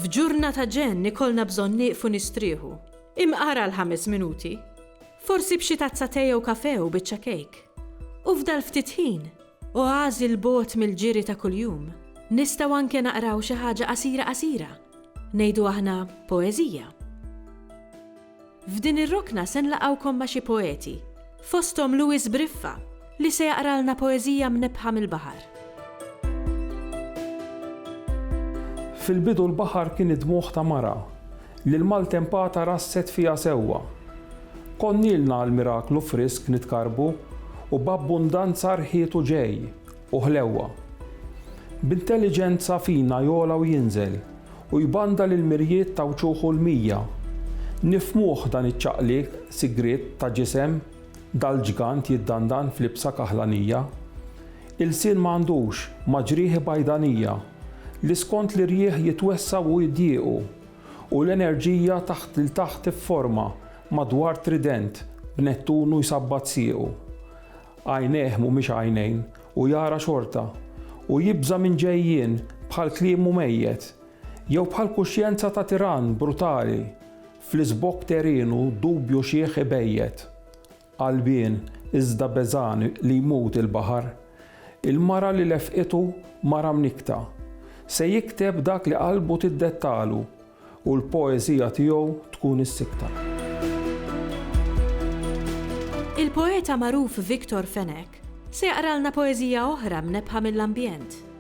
F'ġurnata ġenn ikollna bżonn nieqfu nistrieħu. Imqara għal ħames minuti. Forsi b'xi tazza tè jew kafè u biċċa kejk. U f'dal-ftit ħin, Oażi 'l bogħod mill-ġiri ta' kuljum, nistgħu anke naqraw xi ħaġa qasira qasira, ngħidu aħna poeżija. F'din ir-rokna se nlaqgħukom ma' xi poeti, fosthom Louis Briffa li se jaqralna poeżija mnebbħa mill-baħar. Fil-bidu l-baħar kien id-dmugħ ta' mara. Li l-maltempata rasset fiha sewwa. Konnilna għall-miraklu frisk nitkarrbu u b'abbundanza rħietu ġej u ħlewwa. B'intelliġenza fina jogħla u jinżel u jbanda l-mirjiet ta' wċuħu l-mija. Nifhmuh dan iċ-ċaqliq sigriet ta' ġisem dal-ġgant jiddandan f'libsa kaħlanija. Ilsien m'għandux, ma' ġrieħi bajdanija, li skont l-irjieħ jitwessgħu u jiddjiequ, u l-enerġija taħt 'l taħt ifforma madwar trident b'Nettunu jsabbat siequ. Għajnejh mhumiex għajnejn, u jara xorta, u jibża' minn ġejjien bħal kliemu mejjet, jew bħal kuxjenza ta' tirann brutali fl-iżbokk terinu dubju xiħ ibejjet. Qalbien, iżda beżgħan li jmut il-baħar. Il-mara li lefqitu mara mnikkta. Se jikteb dak li qalbu tiddettalu, u l-poeżija tiegħu tkun is-sikta. Il-poeta magħruf Victor Fenech se jaqralna poeżija oħra mnebbħa mill-ambjent.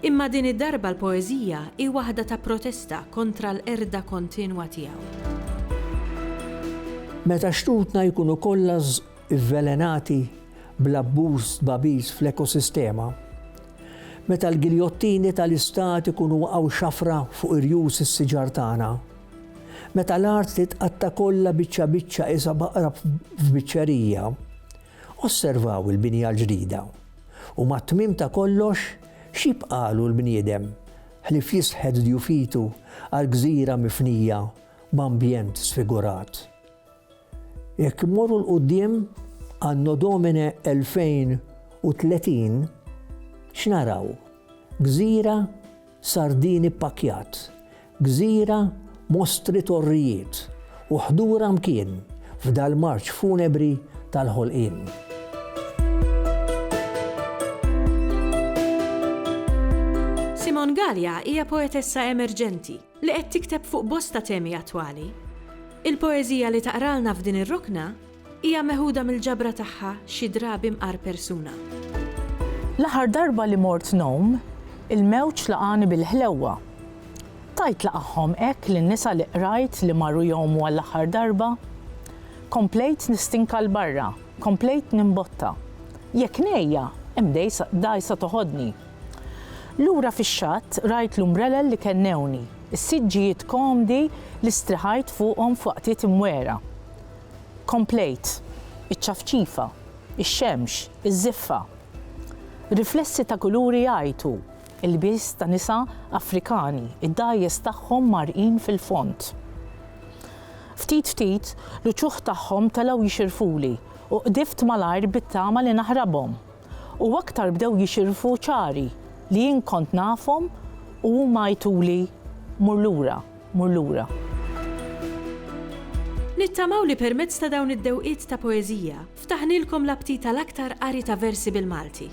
Imma din id-darba l-poeżija hi waħda ta' protesta kontra l-qerda kontinwa tiegħu. Meta xtutna jkunu kollha vvelenati bl-abbuż tbagħbis fl-ekosistema, meta l-giljottini tal-istat ikunu waqgħu xafra fuq irjus is-siġar tagħna, meta l-art titqatta' kollha biċċa biċċa qisha baqra f'biċċerija, Osservaw il-binja l-ġdida, u mat-tmiem ta' kollox, x'jibqagħlu l-bniedem ħlief jisħet djufitu għal gżira mifnija b'ambjent sfigurat? Jekk immorru 'l quddiem, Anno Domine 2030, x'naraw? Gżira sardini ppakkjat, gżira, mostri torrijiet, u ħdura mkien f'dal-marċ funebri tal-ħolqien. Simone Galea hija poetessa emerġenti li qed tikteb fuq bosta temi attwali. Il-poeżija li taqralna f'din ir-rokna Hija meħuda mill-ġabra tagħha xi drabi mqar persuna. L-aħħar darba li mort ngħum, il-mewġ laqagħni bil-ħlewwa. Tajt laqagħhom hekk lin-nisa li qrajt li marru jgħumu għall-aħħar darba. Komplejt nistinka 'l barra, komplejt nimbotta. Jekk ngħejja, hemm dgħajsa toħodni. Lura fix-xatt rajt l-umbrelel li kennewni, is-siġġijiet komdi li striħajt fuqhom f'waqtiet imwegħra. Komplejt, iċ-ċafċifa, ix-xemx, iż-żiffa. Riflessi ta' kuluri jgħajtu, ilbies ta' nisa Afrikani, id-dgħajjes tagħhom mgħarrqin fil-fond. Ftit ftit, l-uċuħ tagħhom telgħu jixirfuli u qdift malajr bit-tama li naħrabhom. u aktar bdew jixirfu ċagħri li jien kont nafhom u huma jgħiduli mur lura, mur lura. Nittamaw li permezz ta' dawn id-dewqiet ta' poeżija, ftaħnilkom l-aptit għal aktar qari ta' versi bil-Malti.